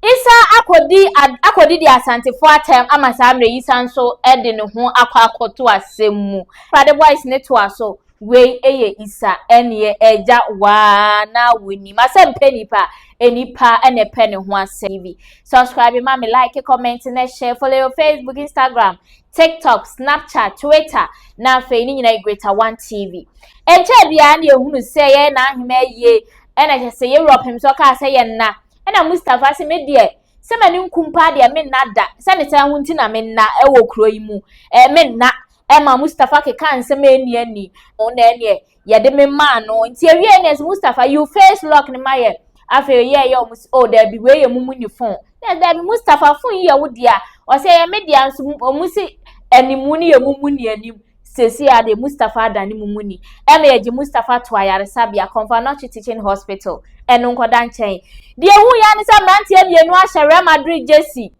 Isa akɔdi ad akɔdi deɛ Asantefoɔ atɛm ama saa mmerɛ yi san nso de ne ho akɔ akɔto asɛm mu. Awurade boys no toa so. Wei yɛ Isa ɛneɛ agya waa na wo nim asɛm pɛ nipa a nipa na ɛpɛ ne ho asɛm TV subscribe ma me like comment na share follow your Facebook Instagram TikTok Snapchat Twitter na afei ne nyinaa Greater One TV ɛnkyɛ biara na yɛhunu sɛ yɛyɛ n'ahema yie ɛna kyɛ sɛ yɛwura ɔpem sɛ ɔkaa sɛ yɛn na Ɛna Mustafa se, me deɛ, sɛ m'ani nku mpo a deɛ menna da, sɛ ne saa ho nti na menna wɔ kuro yi mu. Ɛɛ menna. Ɛma Mustafa kekaa nsɛm a ɛnni ani. Na ɛneɛ, yɛde me maa no. Nti ɛwieɛ neɛ se, Mustafa, you face lock no ma yɛ. Afei ɔyɛɛ yɛ ɔmo se, oh daabi, wei yɛ mumu ni phone. Neɛ daabi, Mustafa, phone yi yɛ wo dea. Ɔse, ɛyɛ me dea nso, ɔmo se animu no yɛ mumu ni anim. Seesei ara deɛ, Mustapha ada ne mumu ni. Ɛnna yɛgye Mustapha too ayaresabea, Confanoche Teaching Hospital, ɛno nkɔda nkyɛn. Deɛ ɛwuu yɛ ara ne sɛ mmeranteɛ mmienu ahyɛ Real Madrid jersey,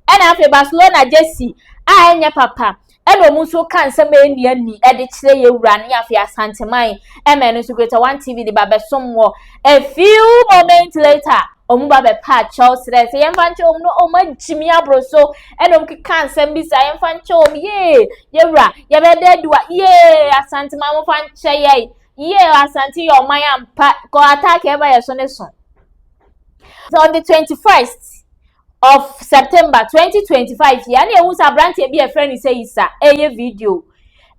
ɛnna afei Barcelona jersey a ɛnyɛ papa, ɛnna wɔn nso reka nsɛm a ɛnni ani de kyerɛ yɛn wura ne afei Asanteman, ɛma ɛno nso Greater One TV de ba bɛsom wɔ a few moments later. wɔn ba bɛpa akyɛw srɛ sɛ yɛmfa nkyɛ wɔn no wɔn agyimi aboro so ɛna wɔn keka nsɛm bi saa yɛmfa nkyɛ wɔn yee yɛwura yɛbɛda adiwa yee asante ma wɔmfa nkyɛ yɛn yee asante yɛ ɔman ampa kɔ attack ɛba yɛ so ne so so on the twenty first of september twenty twenty five yɛ ɛna ehu sɛ aberanteɛ bi ɛfrɛ ne sɛ yisa ɛyɛ video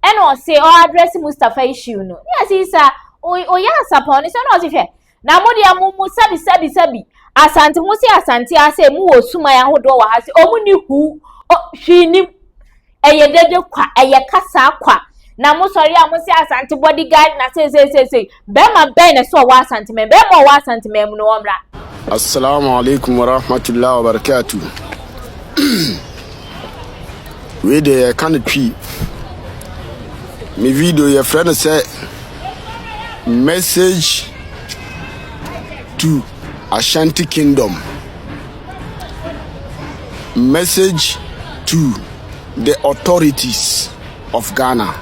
ɛna ɔse ɔ address mustapha issue no ne ɛsɛ yisa ɔyɛ asapɔn ne sɛ ɛna ɔse hwɛ. Na mo deɛ mo mo sɛbi sɛbi sɛbi asante mo se asante ha sɛ mo wɔ suman ahodoɔ wɔ ha sɛ ɔmo ni huu o hwii nim ɛyɛ dede kwa ɛyɛ kasaa kwa na mo sɔre a mo se asante body guard na sei sei sei sei bɛrima bɛn na sɛ ɔwɔ asante mɛn bɛrima ɔwɔ asante mɛn mu no wɔmmra. Assalamu alaikum warahmatullahi wabarakatuh. Wei deɛ yɛka no twi. Me video yɛfrɛ no sɛ message to Ashanti Kingdom. Message to the authorities of Ghana.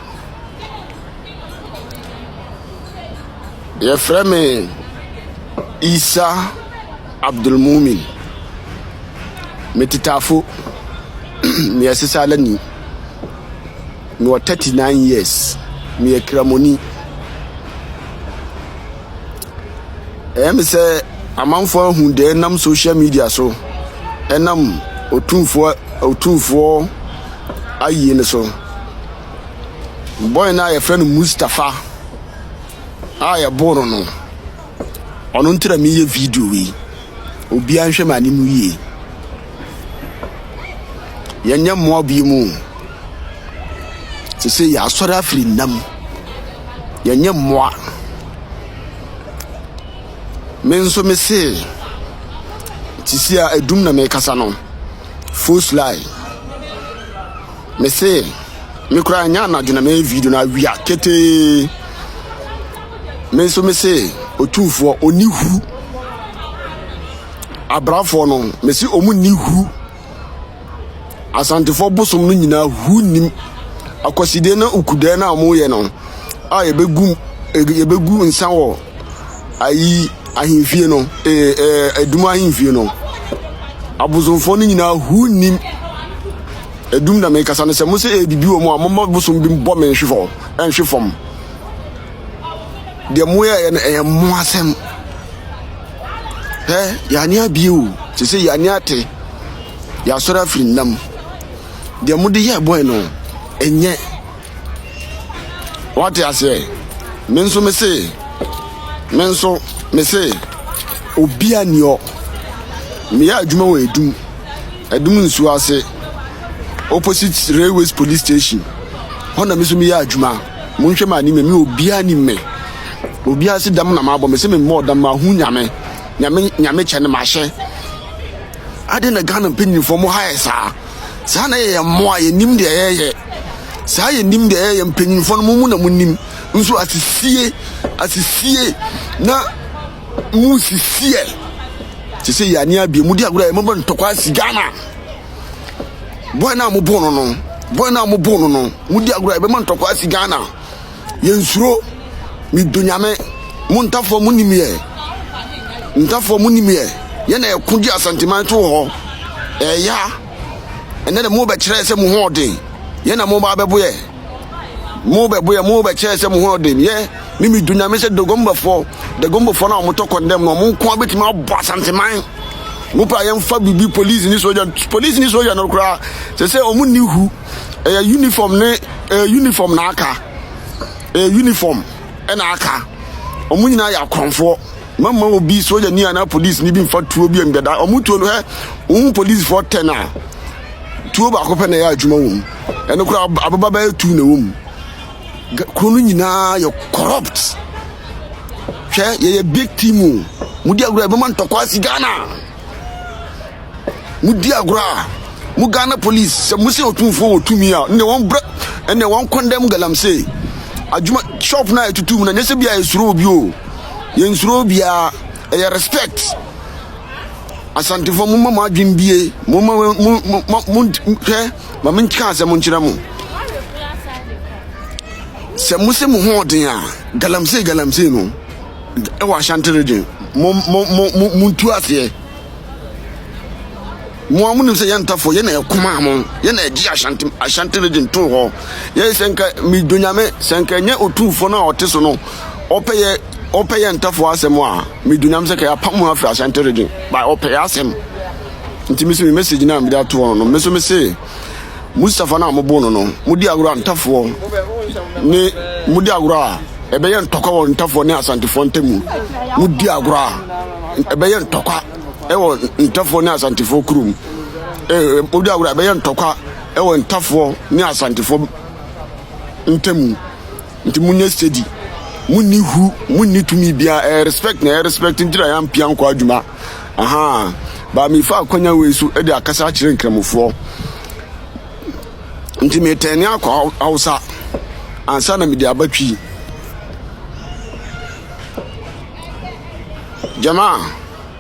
Yɛfrɛ me Isa. Abdulmumin, me tetafo, meyɛ sesalani, mewɔ 39 years, meyɛ Kramoni. Ɛyɛ me sɛ amanfoɔ ahu deɛ ɛnam social media so, ɛnam otumfoɔ otumfoɔ ayie no so. Boy no a yɛfrɛ no Mustafa a yɛboo no no, Ɔno nti na meyɛ video wei. Obiara nhwɛ m'ani mu yie. Yɛnyɛ mmoa bi mu. Sese yɛasɔre afiri nnam. Yɛnyɛ mmoa. Me nso me se sisi a edum na mekasa no. Full sly. Me se me koraa nyɛ anadwo na meyɛ video no awia ketee. me nso me se otumfoɔ ɔnni huru abrafoɔ no me se ɔmu nni huru asantefoɔ bosom no nyinaa huru nnim akwasideɛ na ukudeɛ no a wɔyɛ no a yɛbɛgu yɛbɛgu nsa wɔ ayi ahemfie no ee ee adum ahemfie no abosomfoɔ no nyinaa huru nnim adum na mekasa no sɛ mo sɛ ɛbibi wɔ mu a moma bosom bi bɔ me nhwe fam nhwe fam deɛ ɔmo yɛ yɛ no ɛyɛ mmoa asɛm hɛ yɛani abie o sese yɛani ate yasɔre afiri nna mu deɛ ɔmo de yɛ bɔyɛ no ɛnyɛ wate aseɛ me nso me se me nso me se obi aniɔ meyɛ adwuma wɔ edum edum nsuo ase opposite railways police station hɔ na me nso meyɛ adwuma. Monhwɛ m'anim ɛ, me obiaa nim me Obiaa se dam na m'abɔ me se me mmɔɔ dam M'ahu Nyame, Nyame Nyame kyɛ ne m'ahyɛ Adɛn na Ghana mpanyinfoɔ mo ha yɛ saa Saa na yɛyɛ mmoa, yɛnim deɛ yɛyɛ Saa yɛnim deɛ yɛyɛ, mpanyinfoɔ no mo mo na monim Nso asisie, asisie na mo sisi ɛ Sesei yɛn ani abie, modi agorɔ ɛ, mobɔ ntɔkwa asi Ghana. bɔɔl no a mobɔɔ no no bɔɔl no a mobɔɔ no no modi agorɔ a ɛbɛma ntɔkwa asi ghana yɛnsuro medɔ nyame mo ntafoɔ mo nim yɛ ntafoɔ mo nim yɛ yɛ na yɛko gye asanteman to hɔ ɛya ɛnɛ de mobɛkyerɛ sɛ mo ho ɔden yɛ na mobaa bɛboyɛ mo bɛ boyɛ mo bɛ kyɛ sɛ mo ho ɔden yɛ ne mi du nyame sɛ dogombafo dogombafo na wɔn tɔ kɔndɛm na wɔn nko abɛtumi abɔ asanteman mo pɛ a yɛn fa bibi polisi ne soja polisi ne soja no koraa sɛ sɛ wɔn ni hu ɛyɛ uniform ne ɛyɛ uniform na aka ɛyɛ uniform ɛna aka wɔn nyinaa yɛ akɔnfoɔ mama obi soja ni anaa polisi ni bi nfa tuo bi ɛnbɛda wɔn tuo no hɛ wɔn polisifoɔ tɛ na. tuo baako pɛ na ɛyɛ adwuma wɔ mu ɛno koraa aboba bɛyɛ tu na ɛwɔ mu kuro no nyinaa yɛ corrupt hwɛ yɛyɛ big team o mudi agorɔ a ɛbɛma ntɔkwa asi ghana mudi agorɔ a mo ghana police sɛ mo sɛ ɔtumfoɔ wɔ tumi a ɛnna wɔn brɛ ɛnna wɔn kɔndɛm galamsey adwuma shop na ɛtutu mu na nyɛ sɛ bi a yɛsuro obi o yɛnsuro obiara ɛyɛ respect Asantefoɔ momma mo adwene bie momma mo mo mo mo hwɛ ma me nka asɛm nkyerɛ mo sɛ mo se mo ho ɔden a galamsey galamsey no ɛwɔ Ashanti region mo mo mo mo mo ntu aseɛ mo a mo nim sɛ yɛn ntafoɔ yɛn na ɛkoma mo yɛn na ɛgye Ashanti Ashanti region to hɔ yɛn sɛ nka medonyame sɛ nka ɛnyɛ otumfoɔ no a ɔte so no ɔpɛ yɛ ɔpɛ yɛ ntɛfo asɛm a medunam sɛ kɛyɛ apam ho afiri asante regye ba ɔpɛ yɛ asɛm nti me so me message no a mede ato hɔ no me so me se Mustafa no a mobo no no modi agorɔ a ntafoɔ ne modi agorɔ a ɛbɛyɛ ntɔkwa wɔ ntafoɔ ne asantefoɔ ntamu modi agorɔ a ɛbɛyɛ ntɔkwa ɛwɔ ntafoɔ ne asantefoɔ kurom modi agorɔ a ɛbɛyɛ ntɔkwa ɛwɔ ntafoɔ ne asantefoɔ ntamu Nti monyɛ steady, monni hu, monni tumi bia, ɛyɛ respect na ɛyɛ respect nti na yɛampia nkɔ adwuma. Ahaa, but mefa akwanya wei so de akasa akyerɛ Nkramofoɔ. Nti metɛne akɔ Hausa ansa na mede aba Twi. Jamaa.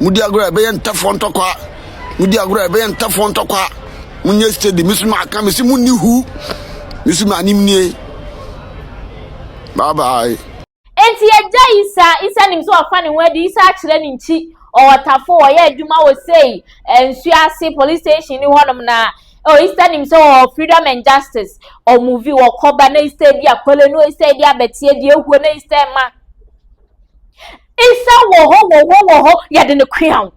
Modi agorɔ a ɛbɛyɛ ntɛfoɔ ntɔkwa. Modi agorɔ a ɛbɛyɛ ntɛfoɔ ntɔkwa. Monyɛ steady. Me so maka me se monni hu. Me so m'anim nie. Bye bye. Enti agya Isa, Isa nim sɛ wafa ne ho adi, Isa akyerɛ ne nkyi, ɔwɔ tafo, ɔyɛ adwuma wɔ sei, nsuo ase, police station ni hɔnom na oh, Isa nim sɛ ɔwɔ freedom and justice, ɔmuvi, wɔkɔba na Isa di akɔle no, Isa di abɛteɛ, di ehuo na Isa ma. Nsa wɔ hɔ, wɔ hɔ, wɔ hɔ, yɛde no koa wo.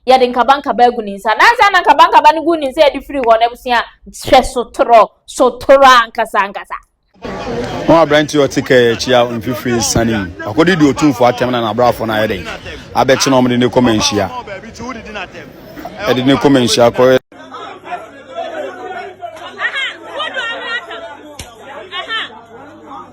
Yɛde nkabankaba agu ne nsa. Nansa na nkabankaba no gu ne nsa yɛde firi hɔ no abusua hwɛ sotorɔ, sotorɔ ankasa ankasa. Ho aberante a ɔte kɛɛ akyi a mfifiri sane mu. Akɔde di otumfoɔ atɛm na n'abrafo no ayɛ dɛn abɛkye no a wɔde no kɔ manhyia. Ɛde no kɔ manhyia kɔyɛ.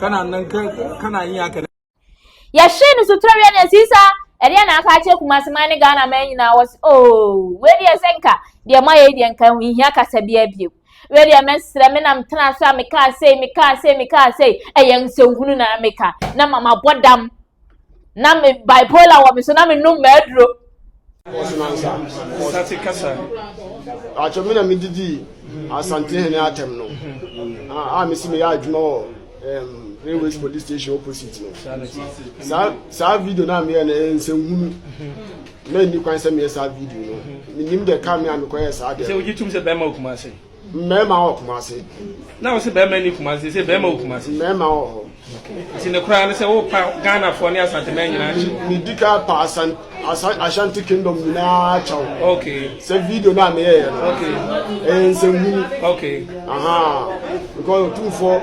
kana nan kana yin haka yɛhye no so twerɛ na ɛsi sa ɛdeɛ na aka akyerɛ kumase man ne ghana man nyinaa wɔ se oo wei deɛ sɛ nka deɛ ma yɛ deɛ nka nhia kasa bi abiem wei deɛ mɛsrɛ me nam tena so a mekaa sei mekaa sei mekaa sei ɛyɛ nsɛnhunu na meka na mama bɔ dam na me bipolar wɔ me so na me nom mɛduro. Sate kasa. Atwa me na me didi asante hene atam no. Ah, ah, me si me ya adwuma wɔ um, railways police station opposite no. Saa saa video na me yɛ na nsɛnhunu. Na ni kwan sɛ me yɛ saa video no. Menim de ka me a me kɔ yɛ saa de. Sɛ ojitum sɛ bɛma okuma ase. Mmarima wɔ Kumasi. Na wɔsi barima ni Kumasi sɛ barima wɔ Kumasi. Mmarima wɔ hɔ. Nti ne koraa ne sɛ wopa Ghanafoɔ ne Asanteman nyinaa kyɛw. Medi ka pa Asan Asan Ashanti Kingdom nyinaa kyɛw. Okay. Sɛ video no a meyɛeɛ no. Okay. Ɛyɛ nsɛnhunu. Okay. Aha. Because otumfoɔ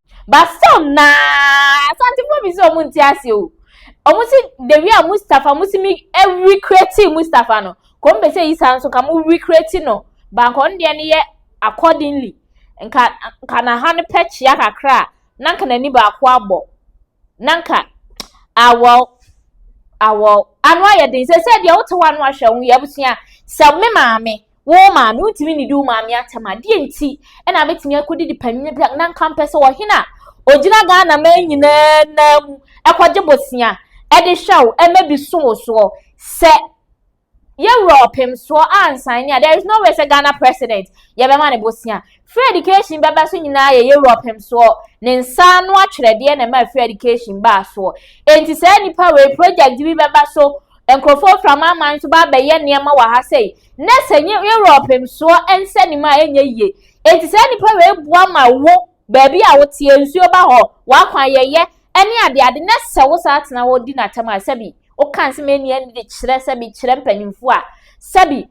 But some naa Asantefoɔ bi sɛ ɔmo nte ase o. Ɔmo si the way a Mustafa mo si mi recreate Mustafa no. Kɔm bɛ sɛ Isa nso ka mo recreate no. Banka ɔno deɛ no yɛ accordingly. Nka nka na ha no pɛ kyea kakra a na nka n'ani baako abɔ. na nka awɔw awɔw ano ayɛ den sɛ sɛ deɛ wote hɔ ano ahwɛ wo yɛ abusua sɛ me maame wo maame wontumi nnidi wo maame atɛm a deɛ nti ɛna abɛtumi akɔdidi panyin bi na nka mpɛ sɛ ɔhene a ɔgyina ghana man nyinaa nan mu ɛkɔgye bosea ɛde hwɛ wo ɛmɛdi so wo soɔ sɛ yɛ wura ɔpem soɔ ansan ni a there is no way sɛ Ghana president yɛbɛma ne bosia free education bɛba so nyinaa yɛ yɛ wura ɔpem soɔ ne nsa ano atwerɛdeɛ na ɛma free education baa soɔ enti saa nipa wei project bi bɛba so nkurɔfoɔ fira ma aman so ba abɛyɛ nneɛma wɔ ha sɛi na sɛ yɛ wura ɔpem soɔ nsɛ ne mu a ɛnyɛ yie enti saa nipa wei boa ma wo baabi a woteɛ nsuo ba hɔ wakwan yɛyɛ ɛne adeade na sɛ wo saa tena hɔ di no atɛm a sɛbi woka nsɛm ɛni ɛni de kyerɛ sɛbi kyerɛ mpanyinfoɔ a sɛbi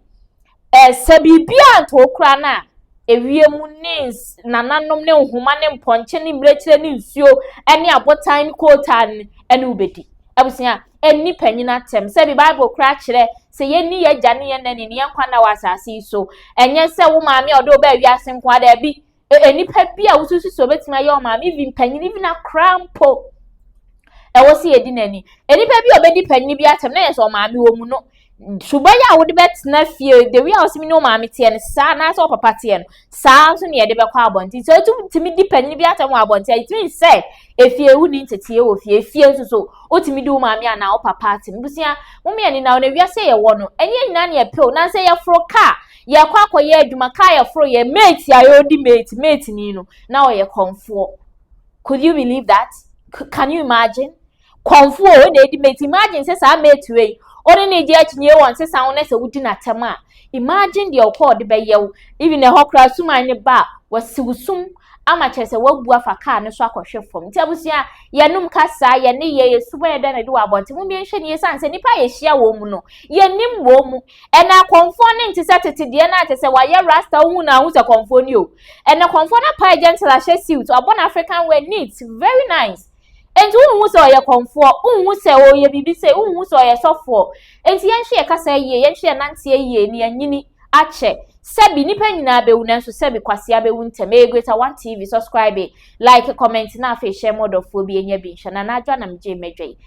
ɛsɛ biribi a nka okura no a ewie mu ne nananom ne nhoma ne mpɔnkye ne mmirekyerɛ ne nsuo ɛne abotan ne kootaa no ɛne wobɛdi abusua ɛni panyin atɛm sɛbi bible kura kyerɛ sɛ yɛni yɛn agya ne yɛn nani ne yɛn nkwa na wɔ asase yi so ɛnyɛ sɛ wo maame a ɔde wo bɛɛ wiase nko ara daabi nnipa bi a wosusu sɛ obetumi ayɛ wɔn maame even panyin even akora mpo ɛwɔ sɛ yɛdi n'ani nnipa bi a obedi panyin bi atɛm na yɛ sɛ ɔmaame wɔ mu no suban yi a wode bɛtena fie the way a wɔsɛm ne ɔmaame teɛ no saa anaasɛ ɔpapa teɛ no saa nso na yɛde bɛkɔ abɔnten sɛ wotumi di panyin bi atɛm wɔ abɔnten a ɛtumi sɛ efie wo ni nteteɛ wɔ fie efie nso so wotumi di wo maame anaa ɔpapa atɛm busua mo mmienu na wɔn awia sɛ yɛwɔ no ɛnyɛ nyinaa na yɛpɛw na sɛ yɛforo kaa Yɛkɔ akɔyɛ adwuma, kaa yɛforo yɛ mate a ɔdi mate, mate ni no, na ɔyɛ kɔnfoɔ. Could you believe that? Can you imagine? Kɔnfoɔ o, na ɛdi mate. Imagine sɛ saa mate wei, ɔne ne gye akyinyie wɔn sesa wo na sɛ wodi n'atɛm a, imagine deɛ ɔkɔ ɔde bɛyɛ wo. Even ɛhɔ koraa suman ne ba a, wasiw sum ama kyerɛ sɛ wabu afa kaa no so akɔhwe fam. Nti abusua, yɛnom kasa, yɛne yɛ, yɛ suban ɛdɛ na ɛde wɔ abɔnten. Mo mmie nhwɛ ni, ɛsiane sɛ nnipa a yɛhyia wɔn mu no, yɛnim wɔn mu. Ɛnɛ kɔmfoɔ no nte sɛ tete deɛ no a kyɛ sɛ wayɛ rasta wohu no a wohu sɛ kɔmfoɔ ni o. Ɛnɛ kɔmfoɔ no apae gentle ahyɛ suit wabɔ n'african wear neat very nice. Enti wonhu sɛ ɔyɛ kɔmfoɔ, wonhu sɛ ɔyɛ biribi sei, wonhu sɛ ɔyɛ sɔfoɔ. Enti yɛnhwɛ yɛ kasa yie, yɛnhwɛ yɛ nanteɛ yie na yɛanyini akyɛ. Sɛbi nnipa nyinaa bɛwu nanso sɛbi kwasea bɛwu ntɛm. Ɛyɛ Greater One TV, subscribe, like, comment na afei hyɛ ma ɔdɔfoɔ bi ɛnya bi nhwɛ. Nana Adwoa na megyee m'adwa yi.